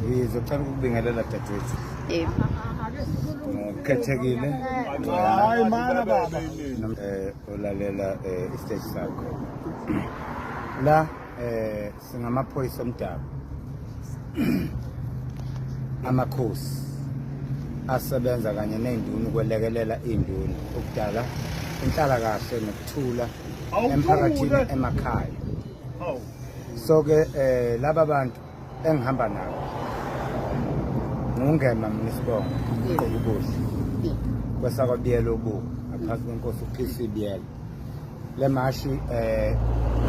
Ngizocela ukubingelela dadewethu. Yebo. Ukhethekile. Hayi mana baba. Eh ulalela eh istage sakho. La eh singamaphoyisa omdabu amakhosi asebenza kanye ney'nduna ukwelekelela iy'nduna ukudala inhlalakahle nokuthula emphakathini emakhaya so-ke um eh, laba bantu engihamba nabo ngungema mina isibongo uqoba ubuhle kwesakwabiyela obuku ngaphansi kwenkosi uphisa ibiyela le mashi eh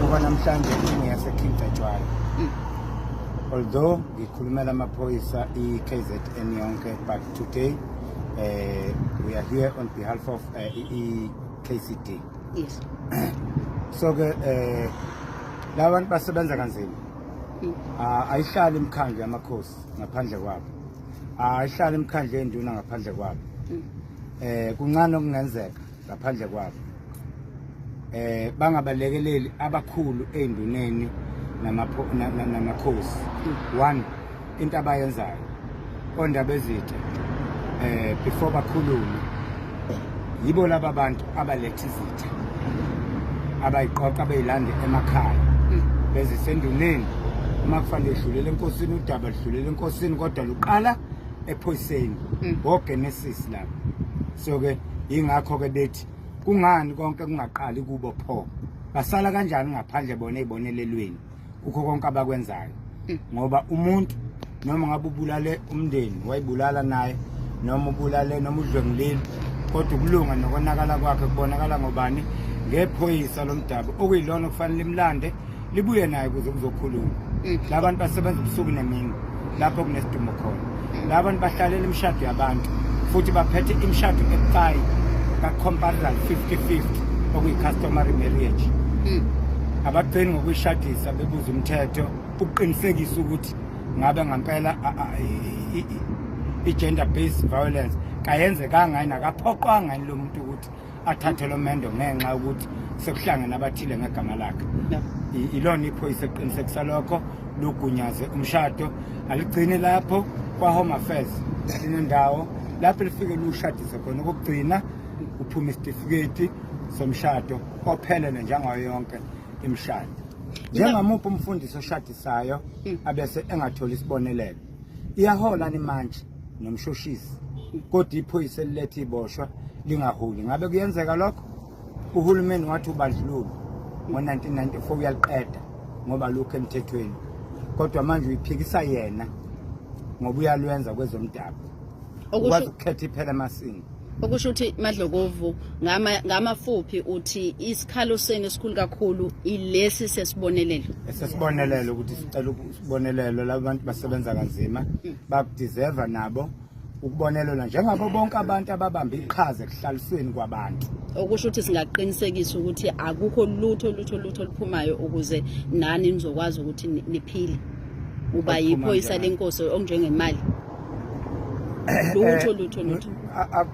kuba namhlanje ingiyase King Cetshwayo mm. although ngikhulumela amaphoyisa i-KZN yonke but today eh we are here on behalf of eh, i-KCD yes so ke eh labantu basebenza kanzima mm. ah, ayihlali imikhandlu yamakhosi ngaphandle kwabo ah, ayihlali imikhandlu yenduna ngaphandle kwabo mm. eh kuncane okungenzeka ngaphandle kwabo eh bangabalekeleli abakhulu einduneni namakhosi one into abayenzayo ondaba ezithe eh before bakhulume yibo laba bantu abaletha izitha abayiqoqa beyilande emakhaya bezisenduneni uma kufanele edlulele enkosini udaba ludlulele enkosini kodwa luqala ephoyiseni mm. ngogenesis la so ke yingakho ke bethi kungani konke kungaqali kubo pho basala kanjani ngaphandle bona ezibonelelweni kukho konke abakwenzayo mm. ngoba umuntu noma ngabe ubulale umndeni wayibulala naye noma ubulale noma udlwengulile kodwa ukulunga nokonakala kwakhe kubonakala ngobani ngephoyisa lomdabu okuyilona okufanele imlande libuye naye kuze kuzokhuluma mm. la bantu basebenza ubusuku nemini lapho kunesidumo khona mm. la bantu bahlalela imishado yabantu futhi baphethe imishado ebucayi ka-comparison 50-50 okuyi-customary marriage mm. abagcini ngokuyishadisa bebuza umthetho ukuqinisekisa ukuthi ngabe ngampela i-gender based violence kayenzekanga yini akaphoqwanga yini lo muntu ukuthi athathe lo mendo ngenxa yokuthi sekuhlangene abathile ngegama lakhe ilona iphoyisa eqinisekisa lokho lugunyaze umshado aligcini lapho kwa-home affairs linendawo lapho lifike lushadise khona okokugcina uphuma isitifiketi somshado ophelele njengayo yonke imishado njengamuphi umfundisi oshadisayo hmm. abese engatholi isibonelelo iyahola ni manje nomshushisi kodwa iphoyisa elilethe iboshwa lingaholi ngabe kuyenzeka lokho uhulumeni wathi ubandlululo ngo-1994 uyaliqeda ngoba lukho emthethweni kodwa manje uyiphikisa yena ngoba uyalwenza kwezomdabu ukwazi ukukhetha iphela emasini okusho ukuthi madlokovu ngamafuphi uthi isikhalo senu esikhulu kakhulu ilesi sesibonelelo sesibonelelo ukuthi sicela ukubonelelo laba bantu basebenza kanzima mm. bakudeserve nabo ukubonelelwa njengabo bonke abantu ababambe iqhaza ekuhlalisweni kwabantu okusho ukuthi singaqinisekisa ukuthi akukho lutho lutho lutho oluphumayo ukuze nani nizokwazi ukuthi niphile uba yiphoyisa lenkosi onjengemali Eh, lutho eh, lutho lutho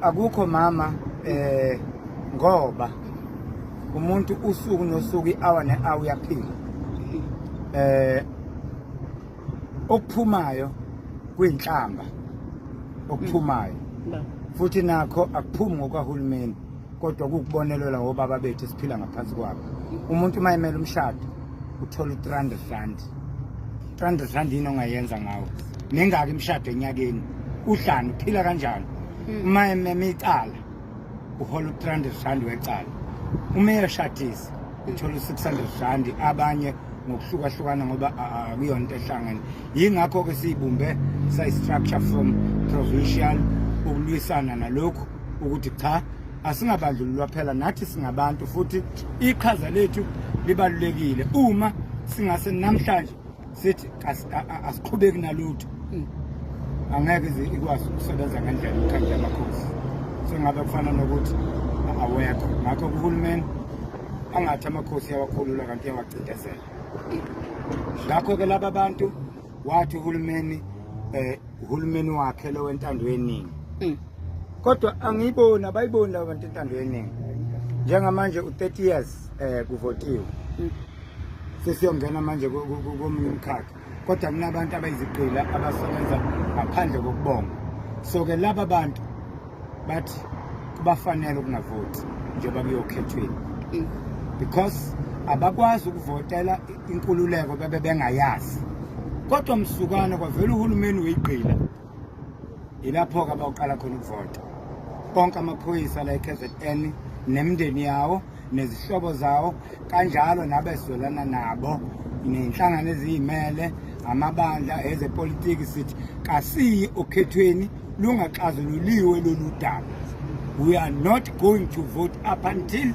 akukho mama eh ngoba umuntu usuku nosuku iawa neawu yaphila eh okuphumayo kwinhlamba okuphumayo mm. futhi nakho akuphumi ngokwahulumeni kodwa kukubonelelwa wobaba bethu esiphila ngaphansi kwabo umuntu uma emele umshado uthola u-three hundred rand three hundred rand yini ongayenza ngawo nengaki imishado enyakeni uhlani uphila kanjani hmm. uma ememe icala uhola u-three hundred rand wecala uma eyeshadisa uthola u-six hundred rand abanye ngokuhlukahlukana ngoba akuyonto ehlangene yingakho-ke siyibumbe sayi-structure from provincial ukulwisana nalokhu ukuthi cha asingabandlululwa phela nathi singabantu futhi iqhaza lethu libalulekile uma singase namhlanje sithi asiqhubeki nalutho hmm. angeke ize ikwazi ukusebenza ngendlela inkhandla yamakhosi sengabe kufana nokuthi awekho ngakho kuhulumeni angathi amakhosi yawakhulula kanti yawacindezela ngakho-ke laba bantu wathi uhulumeni eh uhulumeni wakhe lo wentando yeningi mm. kodwa angiyiboni abayiboni laba bantu intando yeningi njengamanje u-30 years eh kuvotiwe mm. sesiyongena manje komunye umkhakha kodwa kunabantu abayiziqila abasebenza ngaphandle kokubonga so ke laba bantu bathi kubafanele ukungavoti njengoba kuyokhethweni mm. because abakwazi ukuvotela inkululeko bebe bengayazi kodwa msukwana kwavela uhulumeni weyigqila yilapho-ke abawuqala khona ukuvota konke amaphoyisa la e-kzn nemndeni yawo nezihlobo zawo kanjalo nabezwelana nabo nenhlangano eziyimele amabandla ezepolitiki sithi kasiyi okhethweni lungaxazululiwe lolu daba we are not going to vote up until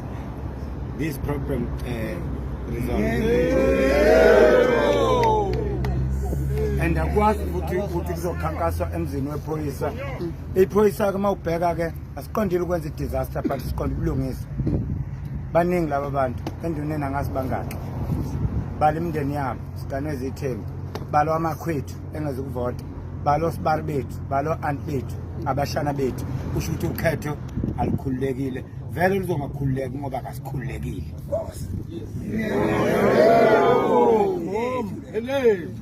this problem uh, and akwazi ukuthi ukuthi kuzokhankaswa emzini wephoyisa iphoyisa ke uma ubheka ke asiqondile ukwenza i-disaster but siqonde ukulungisa baningi laba bantu enduneni angazi bangaki bala imindeni yabo siganwe zithembi balwa amakhwethu engazi ukuvota balo sibari bethu balo aunt bethu abashana bethu kusho ukuthi ukhetho alikhululekile vele luzongakhululeki ngoba kasikhululekile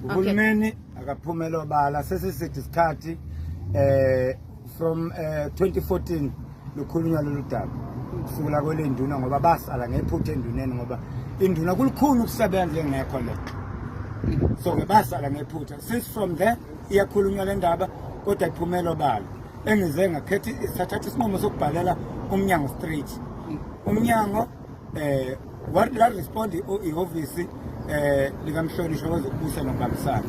uhulumeni akaphumele obala sesisithi isikhathi um from uh, eh, 2014 lukhulunywa lolu daba kusukela kwele nduna ngoba basala ngephutha enduneni ngoba induna kulukhulu ukusebenza engekho le so ke basala ngephutha since from there iyakhulunywa le ndaba kodwa iphumelo balo engize ngakhetha isathatha isinqumo sokubhalela umnyango street umnyango eh what la respond ihhovisi eh likamhlonishwa wezokubusa nokubambisana